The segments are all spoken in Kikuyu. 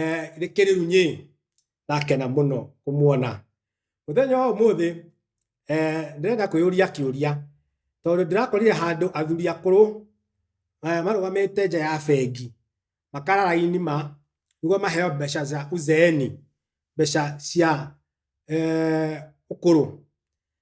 eh, nĩ kĩrĩu nyĩ ndakena mũno kũmuona mũthenya wa ũmũthĩ eh, ndĩrenda kwĩyũria kĩũria tondũ ndĩrakorire handũ athuri akũrũ eh, marũgamĩte nja ya bengi makara raini ma nĩguo maheo mbeca za uzeeni mbeca cia eh, ũkũrũ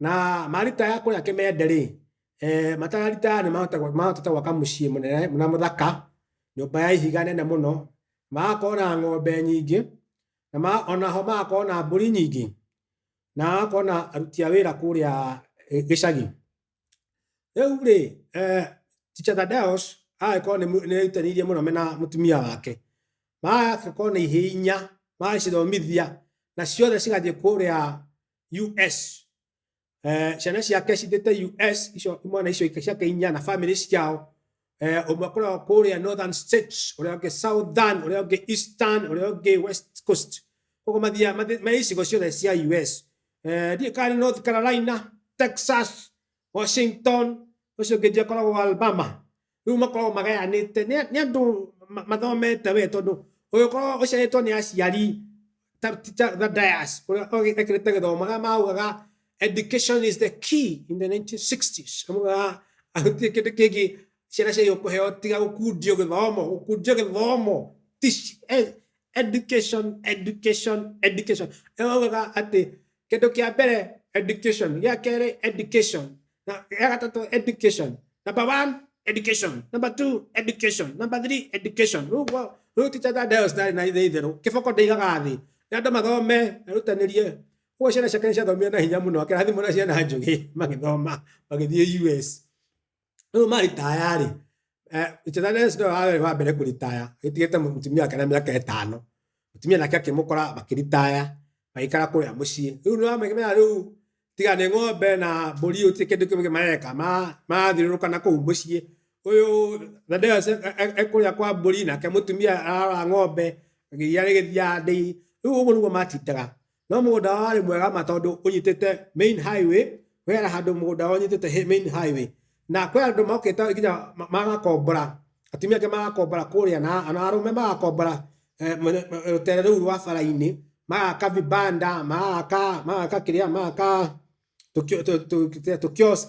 na marita ya kũrĩa kĩmende-rĩ eh, matararita aya nĩmahota- mahotete gwaka mũciĩ mũnene na mũthaka nyũmba ya ihiga nene mũno magakorwo na ng'ombe nyingĩ na ma- ona ho magakorwo na mbũri nyingĩ na magakorwo na aruti a wĩra kũrĩa eh, gĩcagi rĩu rĩ eh, Teacher Thaddeus agĩkorwo nĩ mu- nĩerutanĩirie mũno mena mũtumia wake magagĩkorwo na ihĩinya magagĩcithomithia na ciothe cigathiĩ kũrĩa US eh, ciana ciake cithite US icio imwana icio ika- ciake inya na family ciao eh, umwe akoragwo kuria northern states uria ungi southern uria ungi eastern uria ungi west coast koguo mathia ma icigo ciothe cia US eh, ndiä kana north carolina texas washington å cio ngä ndi akoragwo alabama rĩu makoragwo magayanĩte nĩ nĩ andũ ma- mathomete we tondũ ũgĩkorwo ũciarĩtwo nĩ aciari ta teacher the dias ũrĩa ekĩrĩte gĩthomo arĩa maugaga education is the key in the 1960s amaugaga gũtirĩ kĩndũ kĩngĩ ciana ciagĩrĩirwo kũheo tiga gũkundio gĩthomo gũkundio gĩthomo Tici- eh, education education education Nĩ maugaga atĩ kĩndũ kĩa mbere education gĩa kerĩ education na gĩa gatatũ education number one education number two education number three education rĩu gwa- rĩu teacher Thaddeus ndarĩ na ithe itherũ kĩboko ndĩigaga thĩ nĩ andũ mathome erutanĩrie ũguo ciana ciake nĩ ciathomire na hinya mũno akĩrathimwo na ciana njũgĩ magĩthoma magĩthiĩ US rĩu maritaya rĩ eh, ithetha rĩa Yesu nĩwe warĩ wa mbere kũritaya gĩtigĩte mũtumia wake na mĩaka ĩtano mũtumia nake akĩmũkora makĩritaya magĩikara kũrĩa mũciĩ rĩu nĩwamenya rĩu tiga nĩ ng'ombe na mbũri ũtirĩ kĩndũ kĩngĩ mareka Ma- marathiũrũrũka na kũu mũciĩ ũyũ thadeo ekũrĩa kwa mbũri nake mũtumia ararora ng'ombe iria rĩgĩthiaga ndĩi rĩu ũguo nĩguo matindaga no mũgũnda wao warĩ mwega ma tondũ ũnyitĩte main highway wera handũ mũgũnda wao ũnyitĩte hi- main highway na kwĩ andũ mokĩte nginya ma- magakombora atumia angĩ magakombora kũrĩa na na arũme magakombora eh, mwene- eh, rũtere rũu rwa bara-inĩ magaka vibanda magaka magaka kĩrĩa magaka tũkio- tũ- tũ- tũ- tũkiosk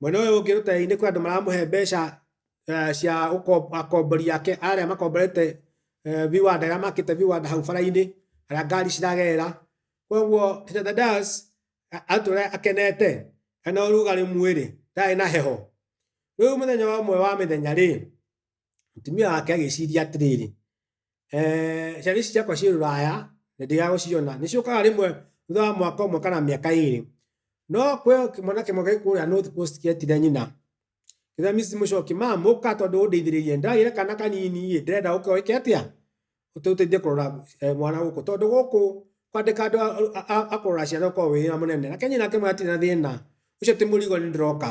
Mwena ũyũ ũngĩ rũteere-inĩ kwĩ andũ maramũhe mbeca eh, cia ũko- akombori ake arĩa makomborete eh, viwanda arĩa makĩte viwanda hau bara-inĩ arĩa ngari ciragerera koguo Tita Thaddeus a- atũre akenete ena ũrugarĩ mwĩrĩ ndarĩ na heho rĩu mũthenya ũmwe wa mĩthenya rĩ mũtumia wake agĩciria atĩrĩrĩ Eeh ciana ici ciakwa ciĩ rũraya na ndiga gũciona, nĩ ciũkaga rĩmwe thutha wa mwaka ũmwe kana mĩaka ĩrĩ. No kwĩ o kĩmwana kĩmwe gĩ kũrĩa North Coast kĩetire nyina, kĩrĩa Miss Mũchoki, "Ma'am ũka tondũ ũndeithĩrĩrie, ndĩragĩa na kana kanini-ĩ, ndĩrenda ũke wĩke atĩa, ũtũteithie kũrora mwana gũkũ, tondũ gũkũ kwandĩka andũ a kũrora ciana ũkoragwo wĩ wĩra mũnene." Nake nyina akĩmwĩra, "Hatirĩ na thĩna, ũcio ti mũrigo nĩndĩroka."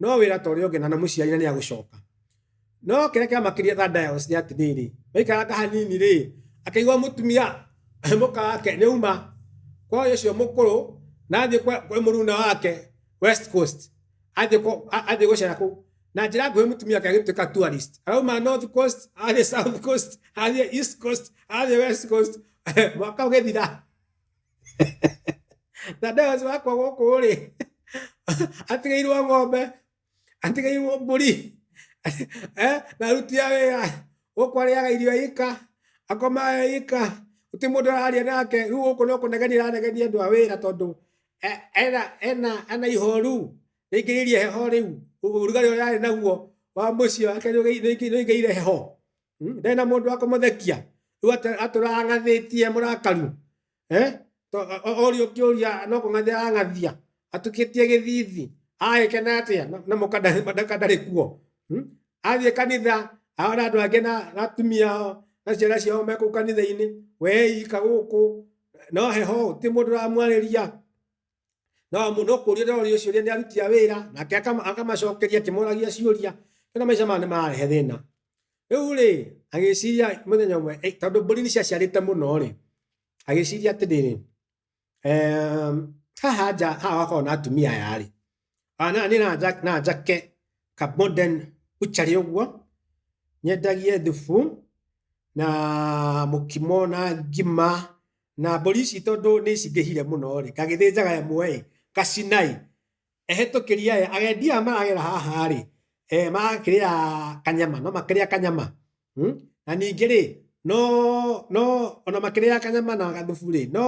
no wira ta uria ungi na muciari na ni agucoka no kiria kiamakirie Thaddeus ni atiriri waikaranga hanini ri akaigua mutumia muka wake ni uma kwa uyu ucio mukuru na athie kwi muruna wake west coast athie ku- a- athie gucera ku na njira nguhi mutumia wake agituika tourist arauma north coast athie south coast athie east coast athie west coast mwaka ugithira na ndawa ũcio wakwa gũkũ rĩ atigairwo ng'ombe atigairwo mbũri eh, na aruti a wĩra gũkũ arĩaga irio ika akomaga ika gũtirĩ mũndũ araria nake rĩu gũkũ no kũnegenia ĩranegenia andũ a wĩra tondũ e- ena ena ena ihoru rĩingĩrĩirie heho rĩu ũrugarĩ ũrĩa arĩ naguo wa mũciĩ wake nĩũgĩire heho ndarĩ na mũndũ wa kũmũthekia rĩu atũ- atũrang'athĩtie mũrakaru Eh? To- o- o- orio kĩũria no kũng'athia arang'athia atukĩtie gĩthithi agĩkena atĩa na- na mũka ndarĩ- mũka ndarĩ kuo Hmm? athiĩ kanitha aona andũ angĩ na na atumia ao na ciana ciao me kũu kanitha-inĩ wee ika gũkũ no heho ti mũndũ ũramwarĩria no mu- no kũũria ndĩroria ciũria nĩ aruti a wĩra nake akama- akamacokeria akĩmoragia ciũria kana maica maya nĩ mararehe thĩna rĩu rĩ agĩciria mũthenya ũmwe "Ei, tondũ mbũri nĩ ciaciarĩte mũno rĩ agĩciria atĩrĩrĩ "Em, haha nja haha wakorwo na atumia aya rĩ Ah, na nĩ na nja- na njake ka modern butchery ũguo nyendagie thubu na mũkimo na ngima na mbũri ici tondũ nĩ cingĩhire mũno-rĩ ngagĩthĩnjaga ĩmwe-ĩ ngacina-ĩ ehĩtũkĩri aya agendi aya maragera haha-rĩ eh marakĩrĩa kanyama no makĩrĩa kanyama na ningĩ-rĩ no no ona makĩrĩaga kanyama na gathubu-rĩ no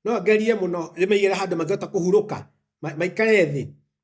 no ngerie mũno ndĩmaigĩre handũ mangĩhota kũhurũka maikare thĩ.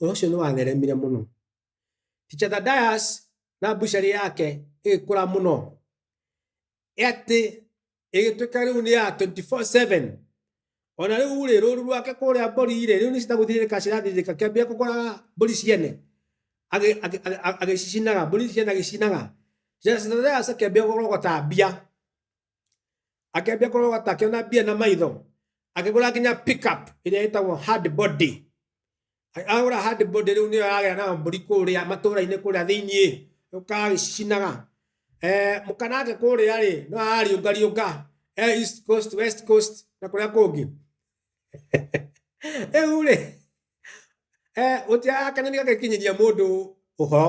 ũhoro ũcio nĩ watheremire mũno Teacher Thaddeus na bucari yake ĩgĩkũra mũno ĩ atĩ ĩgĩtuĩka rĩu nĩ ya 24/7 ona rĩu rĩ rũru rwake kũrĩa mbũri rĩ rĩu nĩ citagũthirĩrĩka cirathirĩrĩka kĩambia kũgũraga mbũri ciene agĩ- agĩ- agĩ- agĩcicinaga mbũri ciene agĩcinaga Teacher Thaddeus akĩambia kũrogota mbia akĩambia kũrorwo ta akĩona mbia na maitho akĩgũra nginya pickup ĩrĩa ĩtagwo hard body A- agũra hard body rĩu nĩyo aragĩa nayo mbũri kũrĩa matũũra-inĩ kũrĩa thĩiniĩ ũkagĩcinaga eh, mũkanake kũrĩa rĩ no arariũngariũnga eh, east coast west coast na kũrĩa kũngĩ rĩu rĩ eh, ũtiakenani gagĩkinyĩria mũndũ ũhoro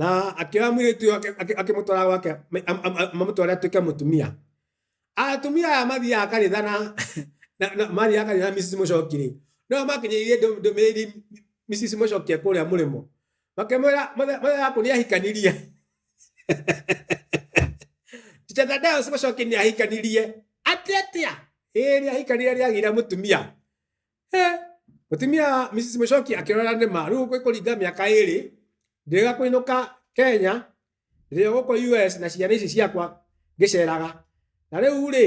Na akĩoya mũirĩtu ũyũ akĩ- akĩ- akĩmũtwara gwake ma- am- am- am- mamũtware atuĩke mũtumia. Atumia aya mathiaga kanitha na na- na- mathiaga kanitha na Mrs. Mũcoki-rĩ, no makinyĩirie ndũ- ndũmĩrĩri Mrs. Mũcoki kũrĩa mũrĩmo. Makĩmwĩra mũthe- mũthenya waku nĩahikanirie. Teacher Thaddeus Mũcoki nĩahikanirie. Atĩ atĩa? Ĩĩ nĩahikanirie nĩagĩire mũtumia. Mũtumia Mrs. Mũcoki akĩrora nĩma rĩu gwĩkũringa mĩaka ĩrĩ ndĩrega kũinũka Kenya ndĩrĩ gũkũ US na ciana ici ciakwa ngĩceraga na rĩu rĩ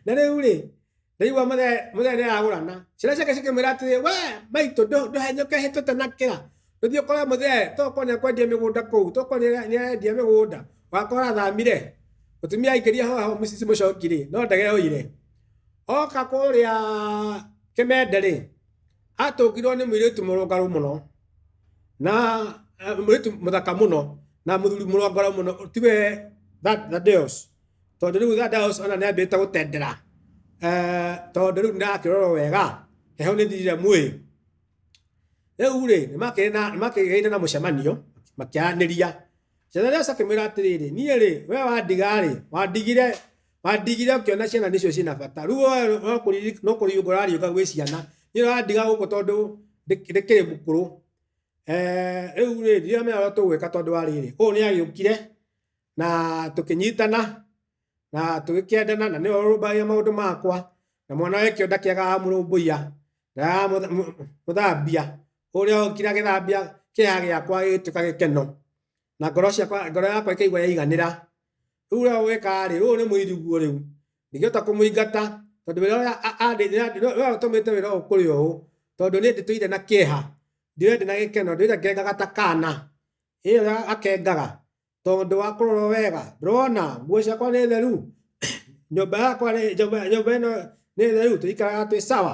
na rĩu rĩ ndaigua mũthenya nĩaragũrana ciana ciake cikĩmwĩra atĩrĩ we maitũ ndũhenyũke hĩtũte na kĩra tũthiĩ ũkore mũthee tokorwo nĩekwendia mĩgũnda kũu tokorwo nĩarendia mĩgũnda wakorwo athamire mũtumia aingĩria hoho Mrs. Mũcoki rĩ no ndege yoire oka kũrĩa kĩmende rĩ atũngirwo nĩ mũirĩtu mũrũngarũ mũno na eh, mũirĩtu mũthaka mũno na mũthuri mũrũngarũ mũno tiwe thadeos tondũ rĩu thadeos ona nĩ ambĩte gũtendera Eh, tondũ rĩu ndakĩrorwo wega heho nĩ thirire mwĩĩ rĩu rĩ nĩmakĩgĩire na mũcemanio makĩaranĩria cethareos akĩmwĩra atĩrĩrĩ niĩ rĩ we wandiga rĩ wandigire Wa ndigire ũkĩona ciana nĩcio ciĩna bata. Rĩu we no kũriri- no kũriũnga ũrariũnga gwĩ ciana. Niĩ ũrandiga gũkũ tondũ ndĩ- ndĩkĩrĩ mũkũrũ. Eh, Rĩu rĩ, ndiramenya ũrĩa tũgwĩka tondũ wa rĩrĩ, ũyũ nĩ agĩũkire na tũkĩnyitana na tũgĩkĩendana na nĩwe ũrũmbagĩrĩra maũndũ makwa na mwana wake ũyũ ndakĩagaga mũrũmbũiya ndaagaga mũtha- mũ- mũthambia. Ũrĩa okire agĩthambia kĩeha gĩakwa gĩgĩtuĩka gĩkeno. na ngoro ciakwa ngoro yakwa ĩkaigua yaiganĩra rĩu rĩo weka rĩ rĩu nĩ mũiriguo rĩu ndingĩhota kũmũingata tondũ wĩra ũrĩa a- a- andĩ- andĩ- nĩwe ũtũmĩte wĩra ũyũ kũrĩ ũũ tondũ niĩ ndĩtũire na kĩeha ndĩwe ndĩ na gĩkeno ndĩire ngengaga ta kana ĩyo ya akengaga tondũ wa kũrorwo wega ndĩrona nguo ciakwa nĩ theru nyũmba yakwa nĩ- nyũmba nyũmba ĩno nĩ theru tũikaraga twĩ sawa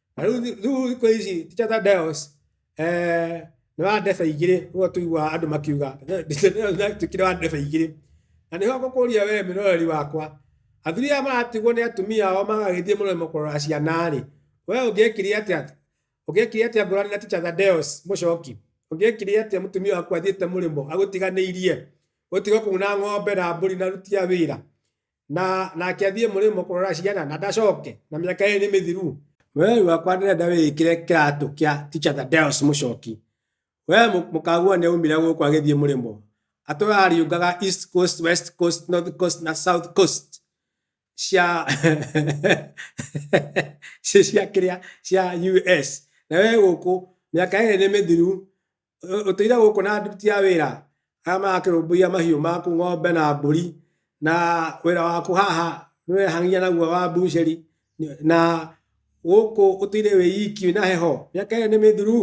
Na rĩu thi- rĩu thikũ ici teacher Thaddeus, eh, nĩ wa ndebe igĩrĩ nĩguo tũiguaga andũ makiuga teacher Thaddeus nĩ atuĩkire wa ndebe igĩrĩ na nĩho ngũkũria wee mwĩroreri wakwa athuri aya maratigwo nĩ atumia ao magagĩthiĩ mũrĩmo kũrora ciana rĩ wee ũngĩekire atĩa ũngĩekire atĩa ngũrani na teacher Thaddeus mũcoki ũngĩekire atĩa mũtumia waku athiĩte mũrĩmo agũtiganĩirie gũtiga kũu na ng'ombe na mbũri na aruti a wĩra na nake athiĩ mũrĩmo kũrora ciana na ndacoke na mĩaka ĩrĩ nĩ mĩthiru we wakwa ndĩrenda wĩkĩre kĩratũ kĩa teacher the deus mũcoki we mũkagua nĩ aumire gũkũ agĩthiĩ mũrĩmo atũra ariũngaga east coast west coast north coast na south coast cia cia kĩrĩa cia us na we gũkũ mĩaka ĩrĩ nĩ mĩthiru ũ- ũtũire gũkũ na nduti ya wĩra arĩa marakĩrũmbũiya mahiũ maku ng'ombe na mbũri na wĩra waku haha nĩwehangia naguo wa mbucĩri nĩ- na gũkũ ũtũire wĩ iki na heho mĩaka ĩyo nĩ mĩthuru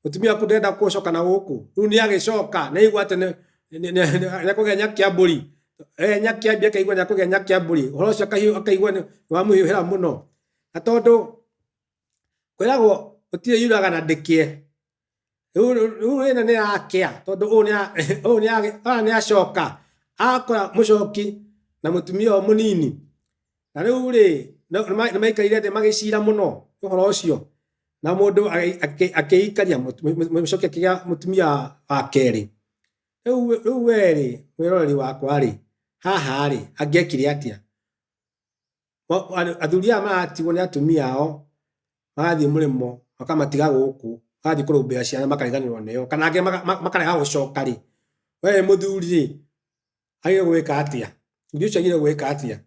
mũtumia waku ndenda gũcoka na gũkũ rĩu nĩ agĩcoka nĩ aigua atĩ nĩ- nĩ- nĩ- nĩ- nĩakũgĩa nyakia mbũri Eh, nyakia mbia akaigua nĩakũgĩa nyakia mbũri ũhoro ũcio akahiũ- akaigua nĩ- nĩwamũhiũhĩra mũno na tondũ kwĩragwo ũtirĩ yuraga na ndĩkĩe rĩu ĩno nĩ yakĩa tondũ ũyũ nĩa ũyũ nĩa ũyũ nĩacoka akora mũcoki na mũtumia ũyũ mũnini na rĩu rĩ nĩmaikarire thĩ magĩcira mũno ũhoro ũcio na mũndũ akĩikaria mũcoki akĩgĩa mũtumia wa kerĩ rĩu rĩu werĩ mwĩroreri wakwa rĩ haha rĩ angĩekire atĩa Mo- andũ- athuri aya maratigwo nĩ atumia ao magathiĩ mũrĩmo makamatiga gũkũ magathiĩ kũrũmbũiya ciana makariganĩrwo nĩo kana angĩ maka- ma- makarega gũcoka rĩ we wĩ mũthuri rĩ agĩrĩirwo gwĩka atĩa mũthuri ũcio agĩrĩirwo gwĩka atĩa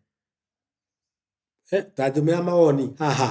Eh, tanjũmĩra mawoni haha